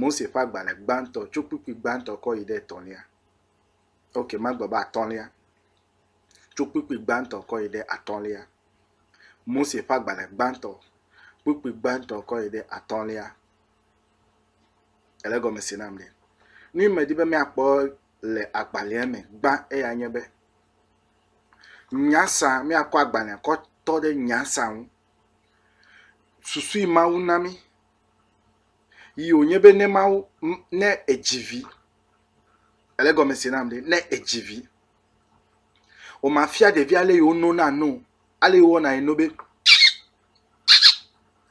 Mose ƒe agbalẽ gbãtɔ tso kpukpui gbãtɔ kɔ yi ɖe etɔ̃lia. Ok magblɔ be atɔ̃lia. Tso kpukpui gbãtɔ kɔ yi ɖe atɔ̃lia. Mose ƒe agbalẽ gbãtɔ, kpukpui gbãtɔ kɔ yi ɖe atɔ̃lia. Ele gɔme se nam ɖe. Nu yi medi be míakpɔ le agbalẽa me gbã eya nye be nyasa míakɔ agbalẽa kɔ tɔ ɖe nyasa ŋu. susui Mawu na mí yi wònye be ne Mawu, ne èdzi vi, ele gɔme se nam ɖe, ne èdzi vi, wòmafia ɖevia ale yi wonona nu o, ale yi wowɔna yi no be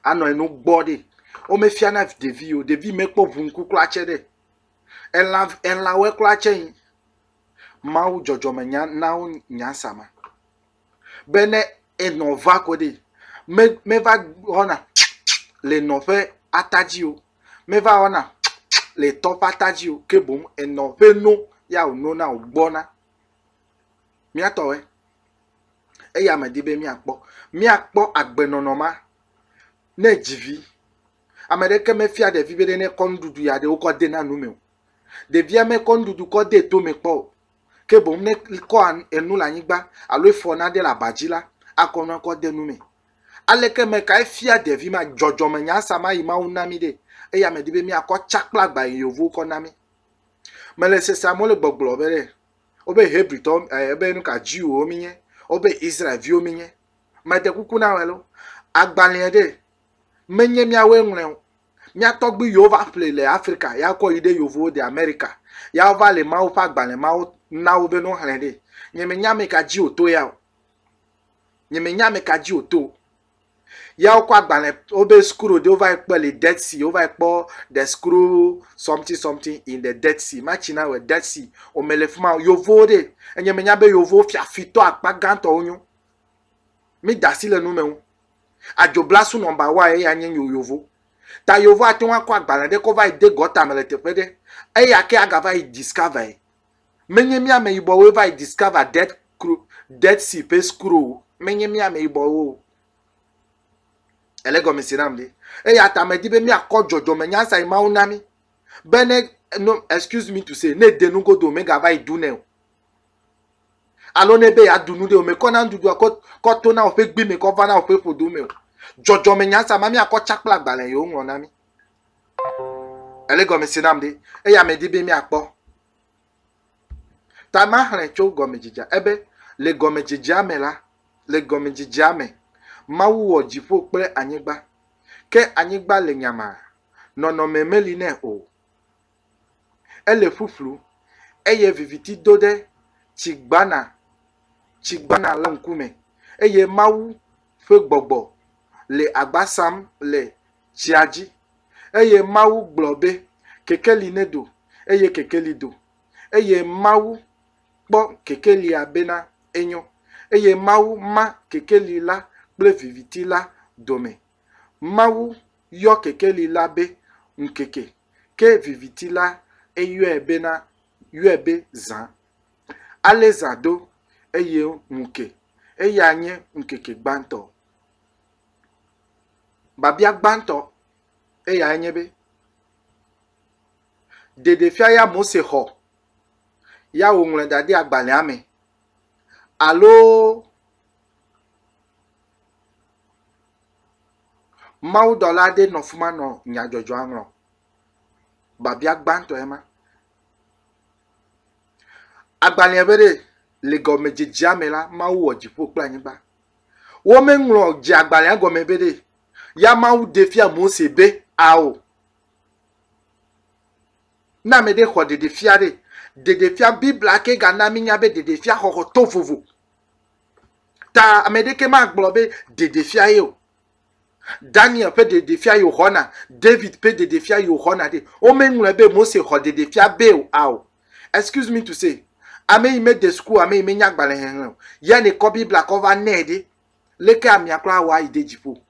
anɔ yi no gbɔ ɖe. Womefiana ɖevi yi o, ɖevi mekpɔ ʋu ŋku kura tsɛ ɖe. Elã, elãwoe kura tsɛ nyi. Mawu dzɔdzɔmenya na wo nya sa ma. be ne enɔ va ko ɖi me meva wɔna tsiutsiu le enɔ ƒe ata dzi o, meva wɔna tsiutsiu le etɔ ƒe ata dzi o ke boŋ enɔ ƒe no ya wònona wògbɔna. Míatɔe eya medi be míakpɔ. Míakpɔ agbenɔnɔ ma ne edzi vi. Ame aɖeke mefia ɖevi be ne kɔ nuɖuɖu ya ɖe wokɔ de na nu me o. Ɖevia mekɔ nuɖuɖu kɔ de tome kpɔ o. ke boŋ ne kɔ enu le anyigba alo efɔ nane le aba dzi la, akɔ nua kɔ de nu me. Aleke me kae fia ɖevi ma dzɔdzɔme nya sia ma yi Mawu na mí ɖe? Eya medi be míakɔ tsa kple agba yi yevuwo kɔ na mí. Mele sesea me wole gbɔgblɔ be ɖe wobe Hebritɔ eh, wobe nuka Jewwo mí nye, wobe Israelviwo mí nye. Mede kuku na wɔ alo agbalẽa ɖe menye míawoe ŋlɔe o. Mía tɔgbui yiwo va ƒlee le Afrika, ya kɔ yi ɖe Yovowo de Amerika. Ya wova le Mawu ƒe agbalẽ ma wo na wo be no xlẽ ɖee. Nye me nya ame ka dzi woto ya o. Nye me nya ame ka dzi woto o. Ya wokɔ agbalẽ wobe screw ɖe wova yi kpɔ le Dead Sea, wova yi kpɔ the screw something something in the Dead Sea. Ma tsi na wɔ Dead Sea. O me le fima o. Yovowo ɖe. Enye me nya be Yovowo fiafitɔ akpa gãtɔ wonyo. Mi da asi le nu me ŋu. Adzobla su nɔmba wa eya nye nyo yovo. Ta yovo ate ŋu akɔ agbalẽ ɖe kɔ va yi de gɔta me le teƒe ɖe. Eya ke agava yi discover ye. Menye mía ameyibɔwoe va yi discover dead cro dead sea ƒe scroll o. Menye mía ameyibɔwo o. Ele gɔme se nam ɖe. Eya ta medi be míakɔ dzɔdzɔmenya sa yi Mawu na mí be ne no excuse me to say ne ede nugodo megava yi dunɛ o. Alo ne be yeaɖu nu ɖe, wòmekɔ na nuɖuɖua kɔ kɔ tona woƒe gbe me kɔ va na woƒe ƒodo me o. Dzɔdzɔmenya sia mea, míakɔ tsa kple agbalẽ ye woŋlɔ na mí. Èle gɔme se nam ɖe? Eya medi be míakpɔ. Ta maxlẽ tso gɔmedzedzea ebe, le gɔmedzedzea me la, le gɔmedzedzea me, Mawu wɔ dziƒo kple anyigba. Ke anyigba le nyamaa, nɔnɔme meli nɛ o. Ele ƒuƒlu eye viviti do ɖe tsigbana tsigbana la ŋkume eye Mawu ƒe gbɔgbɔ le agba sam le tsia dzi. Eye Mawu gblɔ be, Kekeli nedo, eye kekeli do. Eye Mawu kpɔ kekelia bena enyo. Eye Mawu ma kekeli la kple viviti la dome. Mawu yɔ kekeli la be ŋkeke, ke viviti la eyɔe bena yɔe be zã. Ale zã do, eye ŋu ke. Eyae nye ŋkeke gbãtɔ. Biabia gbãtɔ eyae nye be, ɖeɖefia ya Mose xɔ ya wòŋlɔe da ɖe agbalẽa me alo Mawudɔla aɖe nɔ fi ma nɔ nyadzɔdzɔa ŋlɔm. Biabia gbãtɔe ma. Agbalẽa be ɖee, Le gɔmedzedzea me la, Mawu wɔ dziƒo kple anyigba. Womeŋlɔ dzeagbalẽa gɔme be ɖee ya Mawu ɖe fia Mose be ao. Ne ame ɖe xɔ ɖeɖefia ɖe, ɖeɖefia, Biblia ke gana mínya be ɖeɖefia xɔxɔ to vovo. Ta ame ɖeke magblɔ be ɖeɖefia ye o. Daniel ƒe ɖeɖefia yo xɔna, David ƒe ɖeɖefia yo xɔna ɖe. Womeŋlɔe be Mose xɔ ɖeɖefia be o ao. Excuse me to say, ame yi mede suku, ame yi menya agbalẽ xexlẽ o, ya ne kɔ Biblia kɔ va nɛ ɖe, leke amea kura awɔ ayi ɖe dziƒo?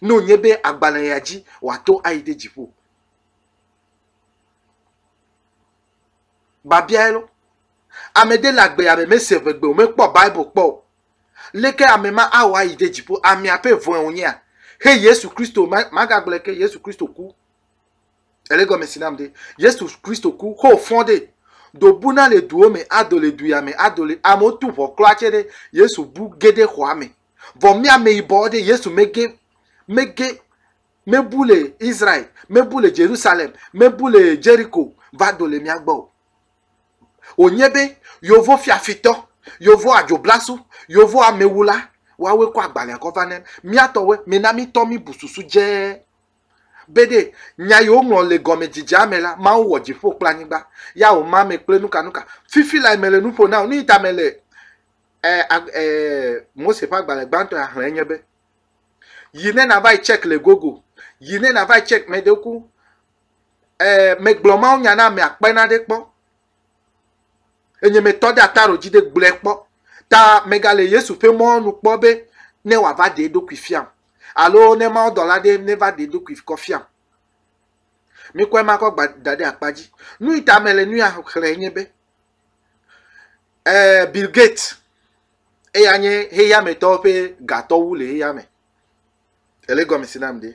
Ne wònye be agbalẽ ya dzi wòato ayi ɖe dziƒo. Babiae lɔ. Ame ɖe le agbeya me mese ʋegbe o, mekpɔ Bible kpɔ o. Leke ame ma awɔ ayi ɖe dziƒo? Amea ƒe vɔ̃e wònyea? Xe Yesu Kristo, magagblɔe ke, Yesu Kristo ku. Ele gɔme si nam ɖe. Yesu Kristo ku, xo fɔ̃ ɖe. Do buna le duwo me, ado le duya me, ado le, amewo tu ʋɔ klɔa tse ɖe, Yesu bu ge ɖe xɔa me. Vɔ mía ameyibɔwo ɖe, Yesu mege, mege, mebu le Israel, mebu le Jerusalem, mebu le Jericho va do le mía gbɔ o. Wònye be yovo fiafitɔ, yovo adzoblasu, yovo amewula, woawoe kɔ agbalẽa kɔ va ne mía tɔwoe, mina mítɔ míbu susu dze be ɖe nya yi woŋlɔ le gɔmedzidzea me la, Mawu wɔ dziƒo kple anyigba, ya wòma ame kple nukanuka. Fifi lae mele nu ƒo na wò. Nu yi ta mele eh, eh, Mose ƒe agbalẽ gbãtɔ ya xlẽe nye be, yi ne nava yi check le google yi ne nava yi check mɛ ɖewo ku ɛɛ eh, megblɔ mawo nya na ame akpe na ɖe kpɔ enye metɔ ɖe ata ɖo dzi ɖe gblɔe kpɔ ta megale yesu ƒe mɔnu kpɔ be ne wòava ɖe eɖokui fiam alo ne mawo dɔla ɖe neva ɖe eɖokui kɔ fiam mikɔe makɔ gba da ɖe akpa dzi nu yi ta mele nu ya xlẽ nye be ɛɛ eh, bill gates eya nye xexeametɔwo ƒe gatɔwu le xexea me. Ele gɔme si nam ɖe.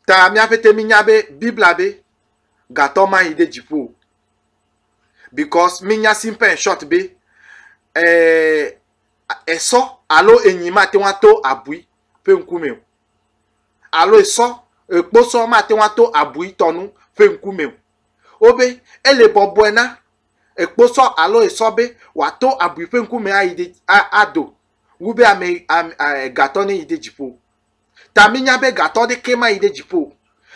Ta míaƒe te minya be Biblia be gatɔ mayi ɖe dziƒo o. Because minya simple and short be eh, esɔ alo enyi mate ŋu ato abui ƒe ŋkume o. Alo esɔ, ekposɔ mate ŋu ato abui tɔnu ƒe ŋkume o. wobe ele bɔbɔe na ekposɔ alo esɔ be wòato abui ƒe ŋkume ayi ɖe ado wu be ame gatɔ ne yi ɖe dziƒo. Ta minya be gatɔ ɖeke mayi ɖe dziƒo.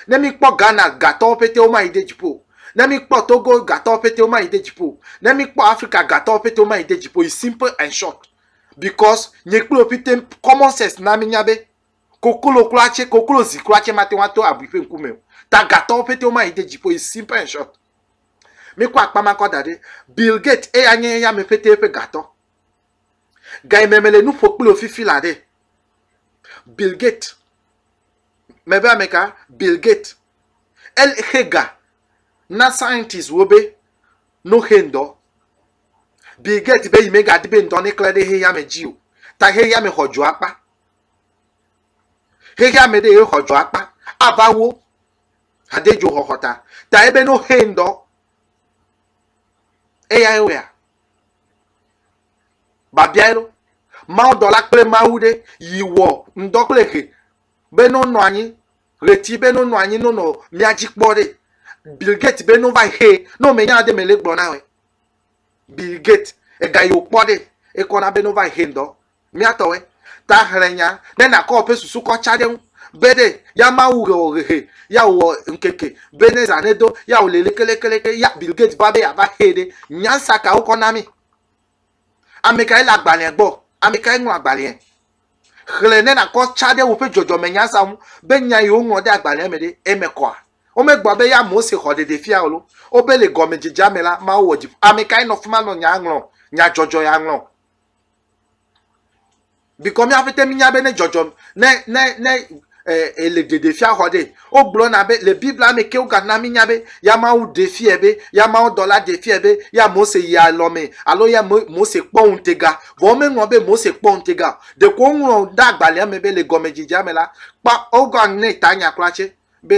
Ne mikpɔ Ghana gatɔwo pete womayi ɖe dziƒo. Ne mikpɔ Togo gatɔwo pete womayi ɖe dziƒo. Ne mikpɔ Afrika gatɔwo pete womayi ɖe dziƒo. It's simple and short because nye kple wò pete common sense na minya be Koklo kura tse, koklo zi kura tse mate ŋu ato abui ƒe ŋkume o. Tagatɔwo ƒete woma yi de dziƒo o. It's simple and short. Mikɔ akpa ma kɔ da ɖi. Bill Gates, eya nye eyame ƒete ƒe gatɔ. Gayi me mele nu ƒo kpli wò fifi la ɖe? Bill Gates. Mebe ame ka? Bill Gates. Exe ga na scientists wo be no xe ŋdɔ. Bill Gates be yi megadi be ŋdɔ ne klẽ ɖe xexeame dzi o. Ta xexeame xɔ dzo akpa. Xexe ame ɖe ye xɔ dzɔ akpa ava wo hade dzo xɔxɔ ta. Ta ebe no xe ŋdɔ. Eya ye wea. Babia elo. Mawu dɔla kple Mawu ɖe yi wɔ ŋdɔ kple xe be no nɔ anyi. Ɣleti be no nɔ anyi no nɔ mia dzi kpɔ ɖe. Bill Gates be no va yi xe no me nya de me le gblɔ na wɔ. Bill Gates ega yi wokpɔ ɖe ekɔ na be no va yi xe ŋdɔ. Mía tɔwɛ ta xlẽ nya be na kɔ ɔpɛ susu kɔ tsa ɖe ŋu be ɖe ya ma wu ɣe ɔ ɣehe ya wɔ ŋkeke be ne zã ne do ya wɔ le lekelekele ya Bill Gates va be ya va xee ɖe. Nyansa ka wo kɔ na mi? Ame kae le agbalẽa gbɔ? Ame kae ŋlɔ agbalẽa? Xlẽ ne na kɔ tsa ɖe woƒe dzɔdzɔme nyansa ŋu be nya yi wo ŋlɔ ɖe agbalẽa me ɖe eme kɔa? Wo me gblɔ be ya Mose xɔ ɖeɖe fia ɔ lo wo be le gɔme dzedzea me la Mawu wɔ dziƒo. Ame kae nɔ fima nɔ nyaa ŋlɔ, nya dzɔdzɔ ya ŋlɔ? Bikɔ mía ƒete mía be ne dzɔdzɔm ne ne ne e le ɖeɖefia xɔ ɖe. Wogblɔna be le Biblia me ke wogana mí nya be ya Mawu ɖe fia be ya Mawu dɔla ɖe fia be ya Mose yi alɔ me alo ya Mose kpɔ ŋutega. Vɔ womeŋlɔ be Mose kpɔ ŋutega o. Ɖeko woŋlɔ ɖe agbalẽa me be le gɔmedzedzea me la kpɔ wogɔ ne tanya kura tse be.